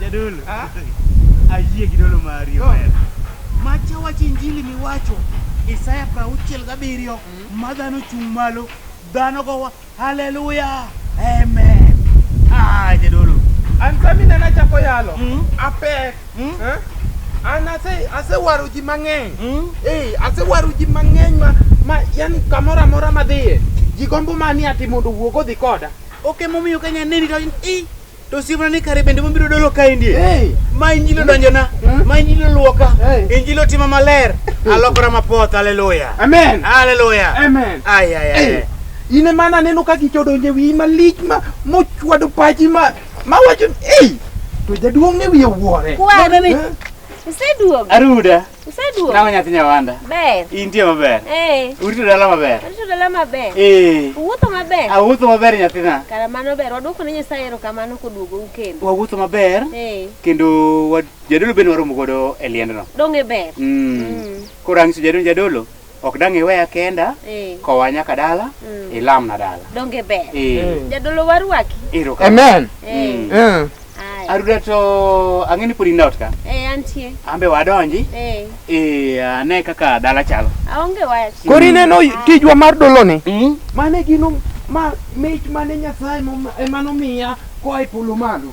Jadolo. Ayie gi dolo mari. Macha wacho injili miwacho. Isaya prauchiel gabiriyo. Ma dhano chung' malo. Dhano gowa. Haleluya. Amen. Ah, jadolo. An sami nana chako yalo. Mm. Apek. Hmm? Eh? An ase asewaro ji mang'eny. Hmm? Eh, asewaro ji mang'eny ma ma yani kamoro amora madhiye. Ji gombo mani ati mondo wuog odhi koda. Ok emomiyo ka nyaneni to in i to siemna ni kare bende mobiro dolo ka indie. Hey. Ma injilo donjona, Hmm? ma injilo luoka, Hey. injilo tima maler. Alokora mapoth, haleluya. Amen. Haleluya. Amen. Ay, ay, ay. Hey. Ine mana neno kaka ichodonje wiyi malich ma mochwado pachi ma Ma wacho ei to jaduong' ne wiye wuore. Kwan. Eh? Iseduogo. Aruda. Iseduogo. Nawa nyathi nyawanda. Ber. Intie maber. Eh. Urito dala maber. Urito dala maber. Eh. Uwuotho maber. Awuotho maber nyathina. Kara mano ber. Waduoko ne Nyasaye erokamano koduogo u kendo. Wawuotho maber. Eh. Kendo jadolo bende waromo godo e liendno. Dong' e ber. Mm. Mm. Koro ang'iso jadolo jadolo. Ok dang' iweya kenda, Eh. kowa nyaka dala, Mm. ilamna dala. Donge ber. Eh, Mm. Jadolo warwaki. ero ka. Amen. Eh. Mm. Mm. Aya. Aruda to ang'e ni pod in out ka. Eh, antie. Ambe wadonji. Eh. Eh, ane kaka dala chalo. Aonge wach. Koro ineno tijwa mar doloni? Mm. Mane gino ma mich mane Nyasaye mom- ema nomiya koa e polo malo.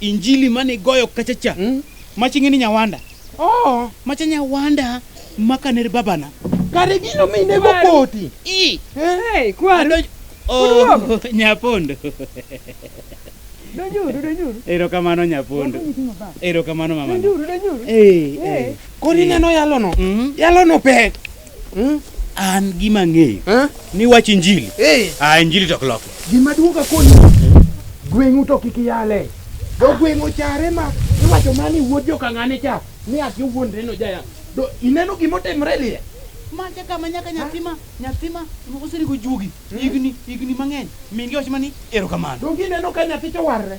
Injili mane igoyo kachacha mm? maching'e ni nyawanda oh. macha nyawanda makaner babana kare gino minego koti hey, eh? kwaru oh, nyapondo erokamano nyapondo erokamano mama eh, eh. koni neno yalono mm-hmm. yalono pek Hmm? An gima ng'eyo eh? ni wach injili eh. Ah, injili to kloko gima duoga koni gweng'u to kik yale do gweng'u chare ma iwacho mani wuod jokang'ane cha ni ati wuondre no jaya do ineno gima otimre liye manja kama nyaka nyathima nyathima oserigo juogi hmm? higni higni mang'eny mingi wach mani erokamano donge ineno ka nyathi to warre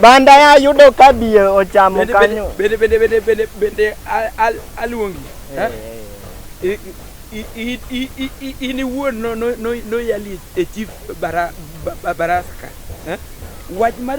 Banda ya yudo ka bie ochamo kanyo. Bende bende bende bende bende aluongi. In iwuon noyali e chief barasa ka. Wach mar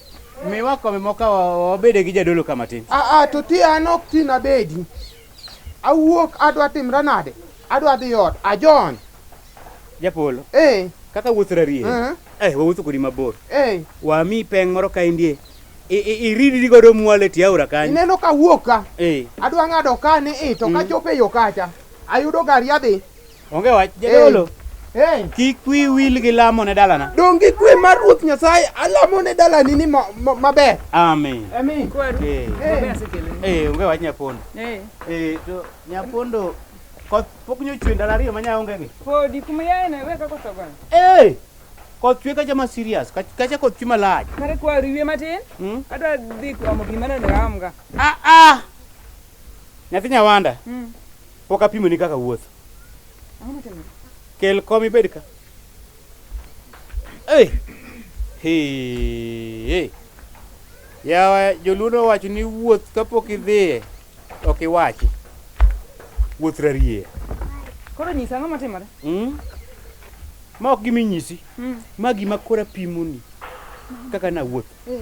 Miwa kombe moko wabede gi jadolo ka matin. Aa, ah, ah, to ti an ok tin abedi. Awuok adwa timra nade? Adwa dhi ot. Ajon. Japolo. Eh. Kaka wuoth rarie. Eh. Eh, wawuotho kodi mabor. Eh. Wami peng moro ka indie. Iridri godo mwale ti aora kanyo. Ineno ka wuok ka. Eh. Adwa ng'ado ka ni i to ka mm. chope yo kacha. Ayudo gari adhi. Onge wach jadolo. Hey. Kik wi wil gi lamo ne dalana. Dong gi kwe mar Ruoth Nyasaye alamo ne dalani ni ma- ma- maber. Amen. Amen. Kwaru. Eh. Hey. Eh, onge wach nyapondo. Eh. Eh, to nyapondo koth pok nyochwe ndalo ariyo ma nya onge gi. Podi kuma yaye na weka koso gwan. Eh. Koth chwe kacha ma serious, kach- kacha koth chwe malach. Kare kwaru ywe matin. Hmm? Adwa dhi kwamo gima nende aamga. Ah ah. Nyathi nyawanda. Mm. Pok apimoni kaka wuotho. Ang'o motimore? Kel kom ibed ka. Hey! Hey! Yawa joluono wacho ni wuoth kapok idhiye ok iwachi. Wuoth rarie. Koro nyisa ang'o motimore? Mm? Ma ok giminyisi. Mm. Ma gima kora pimoni kaka nawuoth. Eh.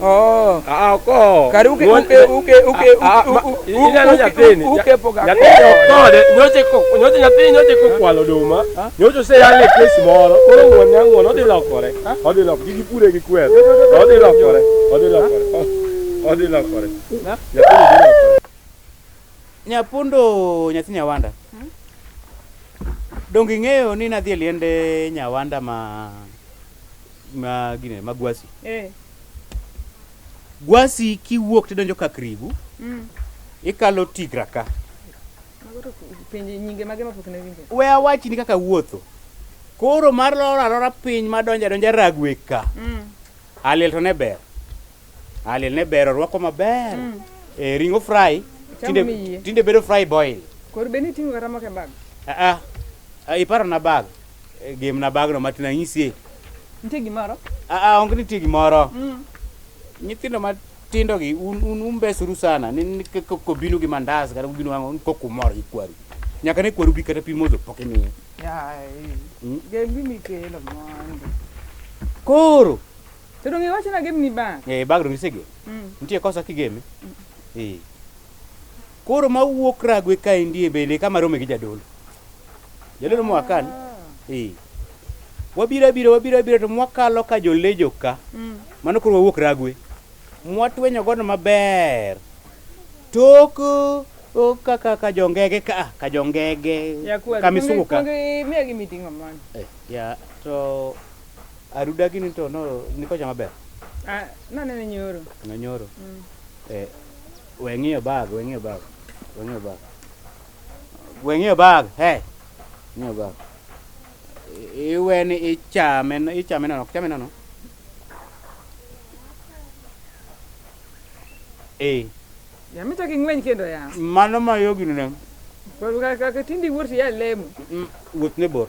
Oh. Ah, ko. Kari uke uke uke uke ah, ah, uke uke poga. Ya te okode, nyoche ko, nyoche ya te nyoche ko kwalo duma. Nyoche se ya le pesi moro, koro ngwan ya ngwan odi lokore. Odi lok gi pure gi kwer. Odi lokore, odi lokore. Odi lokore. Ya te lokore. Nyapundo nyathi Nyawanda. Hmm? Dongi ng'eyo ni nadhi e liende Nyawanda ma ma gine ma gwasi eh. gwasi kiwuok tidonjo ka krigu mm. ikalo tigra ka we awachni kaka wuotho koro mar loro alora piny madonjo adonja ragwe ka mm. aliel to ne ber Ah, liel ne ber orwako maber. Eh, ring'o fry. Chamo Tinde mi yie. tinde bedo fry boil. Kor be ni tingo kata moko e bag. Ah ah. Ah, iparo na bag. Eh, Game na bag no matin anyisie. Nitie gimoro? Ah ah, onge nitie gimoro. Mm. Nyithindo matindo gi un un umbesuru sana. Ni ni k- k- kobinu gi mandas kata kobinu ang'o kok umor gi kwaru. Nyaka ne kwaru bi kata pi modho pok imiye. Yai. Mm. Gembi mikelo mondo. Koro To donge iwacho na game ni bag? Eh, bag donge isegem? Mm. Nitie kosa kigeme? Mm. Eh. Koro ma wuok ragwe ka indie bele kama rome gi jadolo. Jadolo ah. mwakan. Eh. Wabira bira wabira bira to mwakalo ka jolejo ka. Mm. Mano koro wawuok ragwe. Mwatwenyo gono maber. Tok o kaka ka jongege ka ka jongege. Ya kwa. Kamisuka. Miya gi mitingo man. Eh, ya to Aruda gini to no nikocha maber. Ah, nanene nyoro. No nyoro. Mm. Eh, weng'iyo bag, weng'iyo bag. Weng'iyo bag. Weng'iyo bag. Hey. Weng'iyo bag. Iwe ni ichame, ichame nono, ichame nono. Eh. Ya mita king'weny kendo ya. Mano ma yogino ne. Kwa kaka tindi wuoth ya lemo. Mm, wuoth ne bor.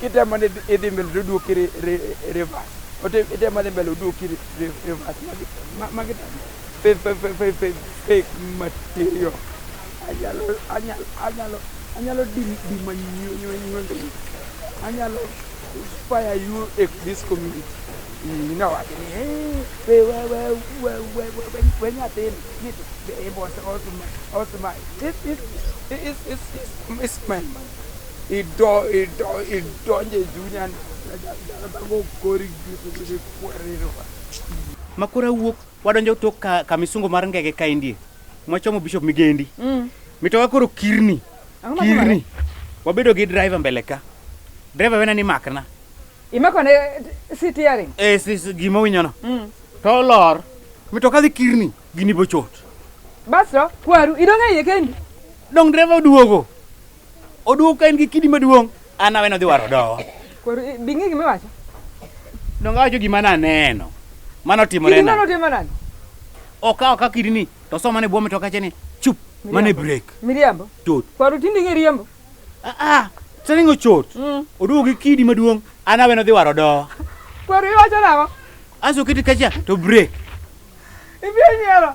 kitemo ni idhi mbele to duoki reverse ote itemo dhi mbele oduoki reverse magi fake material anyalo anyalo anyalo anyalo dima nyuonde anyalo inspire you in this community nowach ni we nyathini nito osma osma is is is is my ido ido idonje chunya go kori gi kwerero makora wuok wadonjo tok ka, ka misungo mar ngege ka indie mwachomo bishop migendi mm. mitoka koro kirni kirni wabedo gi driver mbele ka driver wena ni makna imakone sitiaring eh si, si, gima winyono mm. to lor mitoka dhi kirni gini bochot basto kwaru idonge iye kendi dong driver oduogo Oduogo ka en gi kidi maduong', an aweno dhi waro dowa. Koro eh, bing'e gima iwacho. Donga wacho gima naneno. Mano timore Kidi na. nono timo nani? Okawo ka kidi ni to soma ne bwo mitoka che ni chup mane break. Miriambo. Chot. Koro tindi ng'e riembo. Ah ah. Saningo chot. Mm. Oduogo gi kidi maduong', an aweno dhi waro dowa. Koro iwacho nang'o? Aso kiti kacha to break. Ibiro nyiero.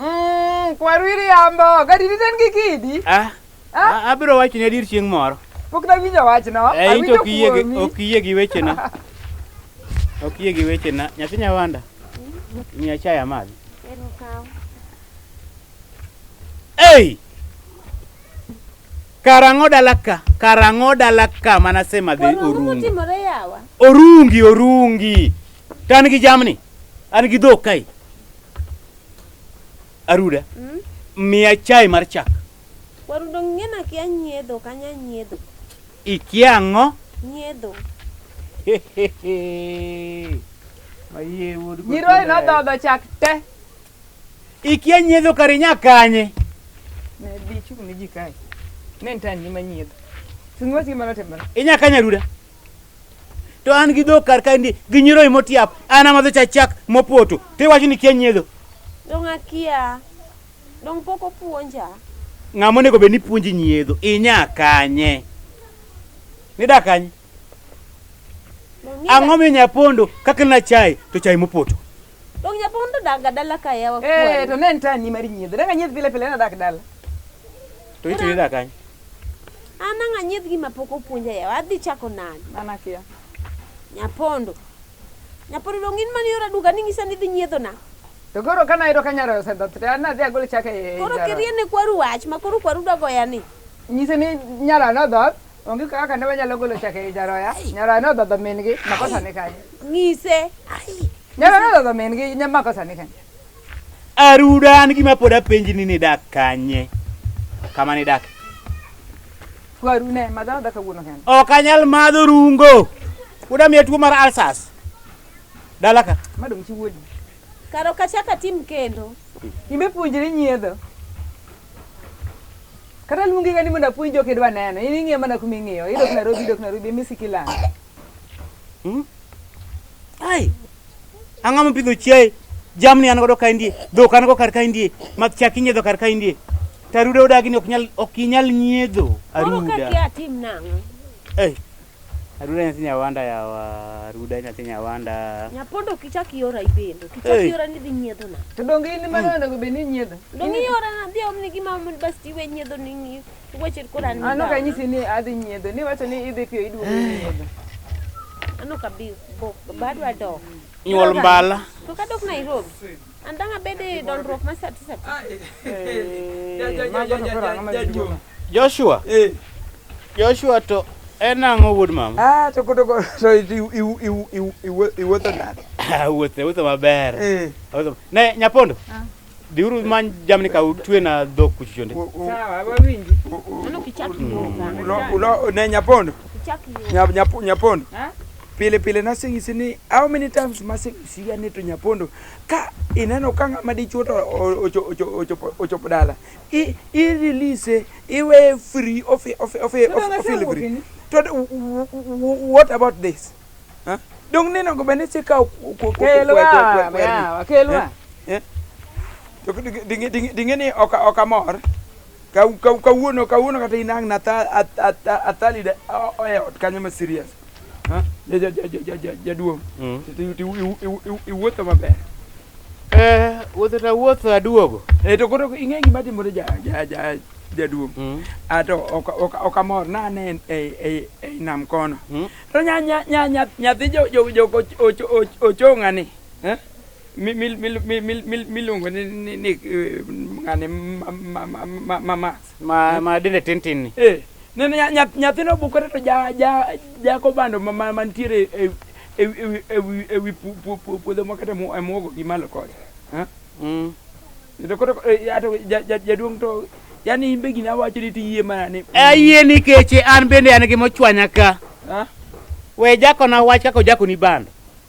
Mm, kwaru iriambo, gadi diten gi kidi. Ah. Ah? Abiro wacho ne dir chieng' moro. Pok na winjo wachno. Eh, ito ok iyie gi ok iyie gi wechena. Ok iyie gi wechena. Nyathi nyawanda. Miya chai amadhi. Ei! Karang'o dalaka, karang'o dalaka mana sema dhi orungi. Orungi, orungi. Kan gi jamni. An gi dhok kai. Aruda. Mm? Miya chai mar chak. Warudo ng'ena kia nyiedho kanya nyiedho. Ikia ang'o? Nyiedho. Ayie wuod. Nyiroye nodhodho chak te. Ikia nyiedho kar inya kanye. Ne bi chung' ne ji kae. Ne ntan ni manyiedho. Sing'wa si mano timore. Inya kanya ruda. to an gi dhok kar kaendi gi nyiroye motiap an amadho cha chak mopoto to iwacho ni kia nyiedho dong akia dong pok opuonja ng'ama onego bed ni puonji nyiedho inya kanye nida kanye ang'o minya pondo kakelna chai to chai mopoto Dong japong to dak ga dala ka yawa Eh, kwani. to ne en tani mar nyiedho. Danga nyiedh pile pile nadak dala. To ito yuda kany. An ang' anyiedh gima pok opuonja yawa. Adhi chako nade? Mana kia. Nyapondo. Nyapondo dong in mani ora duka ni ngisa ni dhi nyiedho na. To koro kana yudo ka nyaro osedhoth to an adhi agol chak e Koro nyaro. kiriene kwaru wach ma koro kwaru dwa goya ni. Nyise ni nyaro nodhoth Onge kaka ne wanyalo golo chak ei jaroya. Nyaroya ne odhodho min-gi, makosa ni kanye? Ng'ise. Nyaroya ne odhodho min-gi, nya- makosa ni kanye? Aruda an gima pod apenji ni nidak kanye? Kama nidak. Kwaru ne, madho adha kawuono kende. Ok anyal madho rungo. Uda miya tuo mar ulcers. Dala ka. Madong' chi wuodi. Karo kachaka tim kendo. Imbe puonjri nyiedho. Kata luongi ka ni mondo apuonj jok idwa neno. In ing'iyo mana kuma ing'iyo. Idok Nairobi, idok Nairobi, emi siki lang. Hmm? Ai. Ang'ama pidho chiaye. Jamni an godo ka indie. Dhok an go kar ka indie. Math chak inyiedho kar ka indie. Taruda odagi ni ok nyal ok inyal nyiedho aruda. Moro ka kia tim nang'o? Eh. Aruda nyathi nyawanda yawa, aruda nyathi nyawanda. Nyapondo ok ichak iora ibendo. Kichak Hey. iora ni dhi nyiedho na. To donge in mano onego bed ni inyiedho? Donge iora na dhi omni gi mama mondo bas tiwe nyiedho ni ni. Wacher kora ni. Ano ka nyisi ni adhi nyiedho, ni wacho ni idhi piyo iduogo nyiedho. Ano ka bi bo badwa dok. Nyuol mbala. To ka dok Nairobi. An dang abed i dolruok ma sati sati. Joshua. Eh. Joshua to en ang'o wuod mama? Ah, to koto to iwuotho nade? Wuothe, wuothe maber. Eh. Ne nyapondo. Ah. Diuru man jamni ka utwe na dhok kuchuchonde. Sawa, wawinji. Mano kichaki hmm. yoga. Ulo ne nyapondo. Kichaki yoga. Nyapondo. Ha? pile pile nasing'isi ni how many times masing'isiga ni to nyapondo Ka ineno ka ng'ama dichuo to ochopo dala, i release, iweye free of delivery. To what about this? Huh? Dong neno go bende si kawo kelwa kelwa. To dinge ni okamor. Kawuono kawuono kata inang' na athali oya ot kanyo ma serious. jaduong' iwuotho maber eh, wuotho ta wuotho aduogo eh, to koro ing'e gima timore jaduong' mm. ato ah, ok amor nane ei nam kono mm. to nyathi ochong'ani eh? miluongo ni ng'ani mamax Ma ma dende tin tin ni. Eh, nene nya- nya- nyathino bukore to ja- ja- jako bando ma- ma- mantiere e- e- e- e- e- e wi pu- pu- pu- puodho moko to emu- emuogo gi malo kode Eh? Mm. To koro, eh, ato ja- ja- jaduong' to yani imbe gini awacho ni tiyie mana ni Ayie nikech an bende an gi mochwanya ka. Ah? We jakona wach kaka ojakoni bando.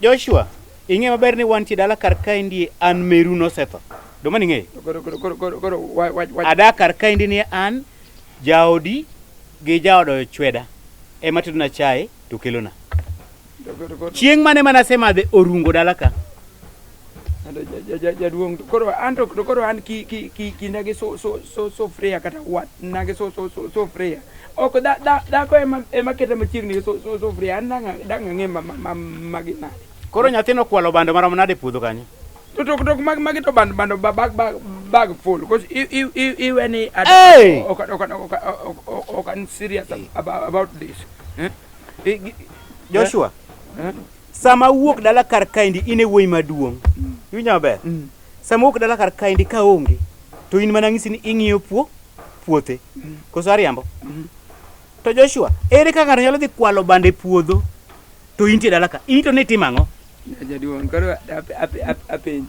Joshua, ing'e maber ni wantie dala kar kaendi an meru nosetho. Duma ning'eyo? Koro koro koro koro koro wa- wa- wa- Ada kar kaendi ni an jaodi gi jaodo chweda ema tedona chae to kelona. koro- koro- Chieng' mane mane asemadhe orungo dala ka. jaduong' to koro an to koro an ki ki ki kinda gi so so so so freya kata wat na gi so so so so freya ok da da da ko ema ema kete machiegni gi so so so freya an danga danga ng'e ma ma ma gi na koro nyathino kwalo bando marom nade puodho kanyo to to to mag magi to bando bando bag bag bag full because i i i i when i hey! ok ok ok ok ok serious about this eh? Joshua eh? Sama awuok dala kar kaendi in e wuoyi maduong'. Iwinja maber? Mm. Sama awuok dala kar kaendi ka onge to in mana ng'isi ni ing'iyo puo puothe. Mm. Koso ariambo? Mm. To Joshua, ere kaka ng'ato nyalo dhi kwalo bande puodho to intie dala ka? In to ne itimo ang'o? Jaduong', koro apenji.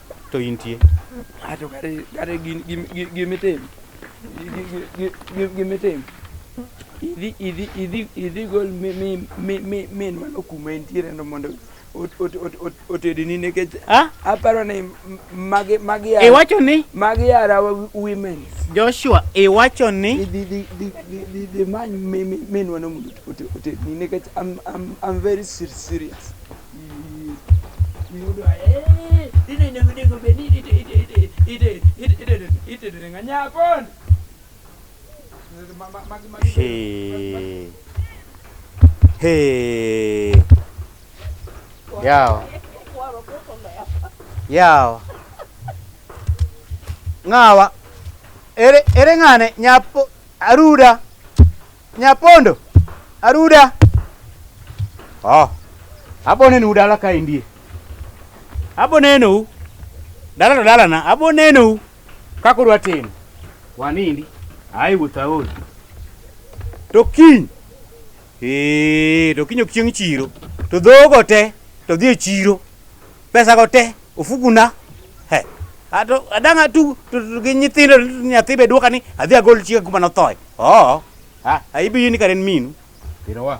to intie. Ato kare kare gin gin gin itim. Gin itim. Idhi idhi idhi idhi gol mi mi mi mi mi mano kuma intiere no mondo otedini nikech aparo ni magi magi iwacho ni magi yara women Joshua iwacho ni dhi dhi dhi dhi dhi many minwa no mondo otedini nikech I'm I'm I'm very serious Hey. Hey. Yawa. Yawa. Ngawa. Ere ere ngane nyapo aruda. Nyapondo, aruda. Oh. Abo nenu dala ka indie. Abo nenu. Dala to dala na. Abo nenu. Kako dwa timo. Wanindi. Ai wuta ol. To kiny. Eh, to kiny ok chieng' chiro. To dhogo te to dhi e chiro. Pesa go te Ofuguna. He. Ato adang' atug to- to gi nyithindo nyathi be dwoka ni adhi agol chiega kuma nothoe. Oo. Ha, ha ibi yini kare en minu. Iro wa.